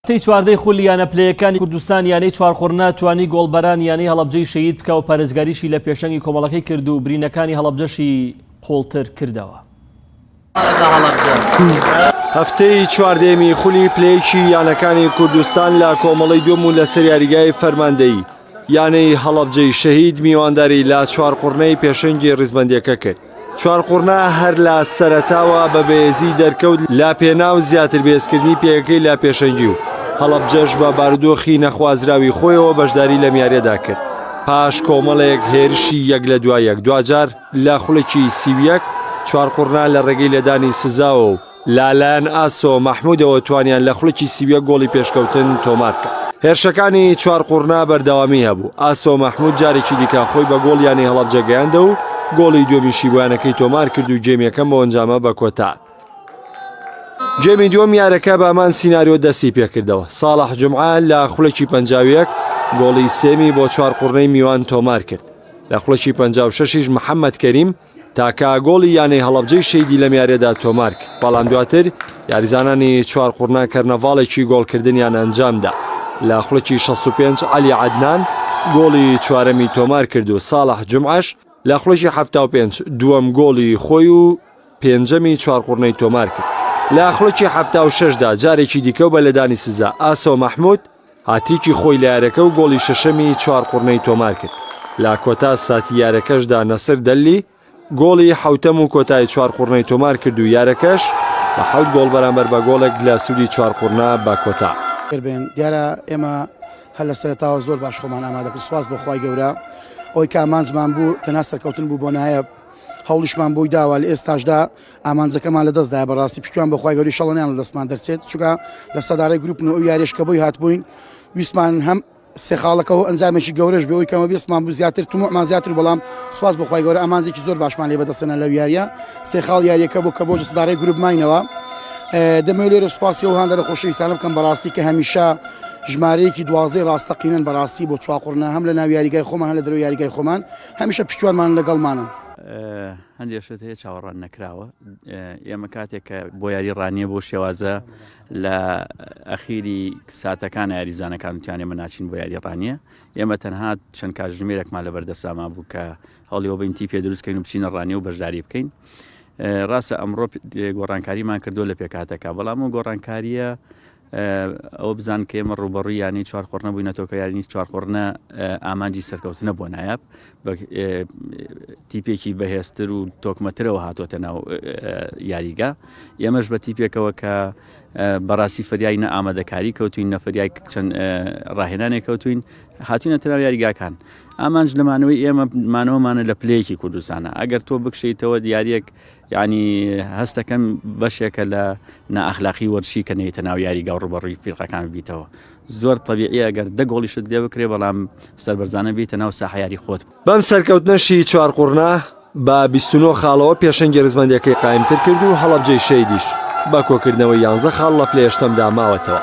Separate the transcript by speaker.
Speaker 1: تەی چواردەی خولی یانە پلەیەکانی کوردستان یانەی چوارقوڕنە توانی گۆڵبەران یانەی هەڵەبجەی شەهید بکا و پارێزگاریشی لە پێشەنگی کۆمەڵەکەی کرد و برینەکانی هەڵەبجەشی قوڵتر کردەوە.
Speaker 2: هەفتەی چواردەیەمی خولی پلەیەکی یانەکانی کوردستان لە کۆمەڵەی دووەم و لەسەر یاریگای فەرماندەیی یانەی هەڵەبجەی شەهید میوانداری لە چوارقوڕنەی پێشەنگی ڕیزبەندییەکە کرد، چوارقوڕنە هەر لە سەرەتاوە بە بەێزی دەرکەوت لە پێناو زیاتر بەێزکردنی پێگەکەی لە پێشەنگی و هەڵەبجەش بە بارودۆخی نەخوازراوی خۆیەوە بەشداری لەم یاریەدا کرد پاش کۆمەڵێک هێرشی یەک لە دوا یەک دواجار لە خولەکی سی و یەک چوارقوڕنە لە ڕێگەی لێدانی سزاوە و لەلایەن ئاسۆ مەحمودەوە توانیان لە خولەکی سی و یەک گۆڵی پێشکەوتن تۆمارکەن. هێرشەکانی چوارقوڕنە بەردەوامی هەبوو، ئاسۆ مەحمود جارێکی دیکە خۆی بە گۆڵ یانەی هەڵەبجە گەیاندەوە و گۆڵی دووەمیشی بۆ یانەکەی تۆمارکرد و گێمی یەکەم بەو ئەنجامە بەکۆتاهات. گێمی دووەم یارەکە بە هەمان سیناریۆ دەستیپێکردەوە، ساڵح جومعە لە خولەکی پەنجا و یەک گۆڵی سێمی بۆ چوارقوڕنەی میوان تۆمارکرد، لە خولەکی پەنجا و شەش یش محەمەد کەریم، تاکا گۆڵی یانەی هەڵەبجەی شەیدی لەم یاریەدا تۆمارکرد، بەڵام دواتر یاریزانانی چوارقوڕنە کەرنەڤاڵێکی گۆڵکردنیان ئەنجامدا، لە خولەکی شەست و پێنج عەلی عەدنان گۆڵی چوارەمی تۆمارکرد و ساڵح جومعەش لە خولەکی حەفتا و پێنج دووەم گۆڵی خۆی و پێنجەمی چوارقوڕنەی تۆمارکرد، لە خولەکی حەفتا و شەش دا جارێکی دیکەو بە لێدانی سزا ئاسۆ مەحمود هاتریکی خۆی لە یارەکە و گۆڵی شەشەمی چوارقوڕنەی تۆمارکرد، لە کۆتا ساتی یارەکەشدا نەسر دەللی گۆڵی حەوتەم و کۆتای چوارقوڕنەی تۆمارکرد و یارەکەش بە حەوت گۆڵ بەرامبەر بە گۆڵێک لە سوودی چوارقوڕنە بە کۆتا دەربێن، دیارە
Speaker 3: ئێمە هەر لە سەرەتاوە زۆر باش خۆمان ئامادەکرد، سوپاس بۆ خوای گەورە ئەوەی کە ئامانجمان بوو تەنها سەرکەوتن بوو بۆ نایەب، هەوڵیشمان بۆی داوە لە ئێستاشدا، ئامانجەکەمان لە دەستدایە بەڕاستی پشتیان بەخوای گەوری شەڵەنیان لە دەستمان دەرچێت چکە لە سەدارەی گروپن و یاریش کە بۆی هاتبووین ویسمان هەم سێ خاڵەکەەوە ئەنجامێکی گەورەش بۆی کەمە بێسمان بوو زیاتر تممان زیاتر بەڵام سوپاس بخوای گەورە ئامانزێکی زۆر باشمان لێ بەدەسەنە لە یاریە سێ خاڵ یاریەکە بۆ کە بۆ سدارەی گروپ ماینەوە دەمە لێرە سوپاسی و هاندەرە خۆشەویستانە بکەم بەڕاستی کە هەمیشە ژمارەیەکی دوازەی ڕاستەقینەن بەڕاستی بۆ چواقڕنا هەم لە ناو یاریگای خۆمان هە لە درو یاریگای خۆمان هەمیشە پشتوانمان لەگەڵمانن. هەندێک
Speaker 4: شت هەیە چاوەڕوان نەکراوە ئێمە کاتێک کە بۆ یاری ڕانیە بۆ شێوازە لە ئەخیری ساتەکان یاریزانەکان وتیانێ من ناچین بۆ یاری ڕانیە ئێمە تەنها چەند کاژمێرەکمان لە بەردەساما بوو کە هەڵیەوە بین تیپێ دروستکەین و بچینە ڕانیە و بەشداری بکەین ڕاستە ئەمڕۆ گۆڕانکاریمان کردو لە پێکاتەکە بەڵام و گۆڕانکاریە ئەوە بزان کە ئێمە ڕووبەڕووی یانەی چوار قۆڕنە بووینەتەوە کە یاریی چوار قۆڕنە ئامانجی سەرکەوتنە بۆ نایاب تیپێکی بەهێزتر و تۆکمەترەوە هاتووەتە ناو یاریگا ئێمەش بە تیپێکەوە کە بەڕاستی فریای نە ئامادەکاری کەوتوین نەفریای چەند ڕاهێنانێ کەوتوین هاتوینە تررا یاریگاکان ئامانج لەمانەوەی ئێمە مانەوەمانە لە پلەیەکی کوردستانە ئەگەر تۆ بکشیتەوە دیارەک یانی هەستەکەم بەشێکە لە نائەخلاقی وەرزشی کە نەیتە ناو یاریگا و ڕوبەڕوی فیرقەکان ببیتەوە زۆر تەبیعی ئەگەر دە گۆڵیشت لێ بکرێ بەڵام سەربەرزانە بیتە ناو ساحە یاری خۆت بەم سەرکەوتنەشی
Speaker 2: چوار قوڕنە بە بیست و نۆ خاڵەوە پێشەنگی ڕیزبەندیەکەی قایمتر کرد و هەڵەبجەی شەیدیش بە کۆکردنەوەی یانزە خاڵ لە پلە یەشتەمدا ماوەتەوە.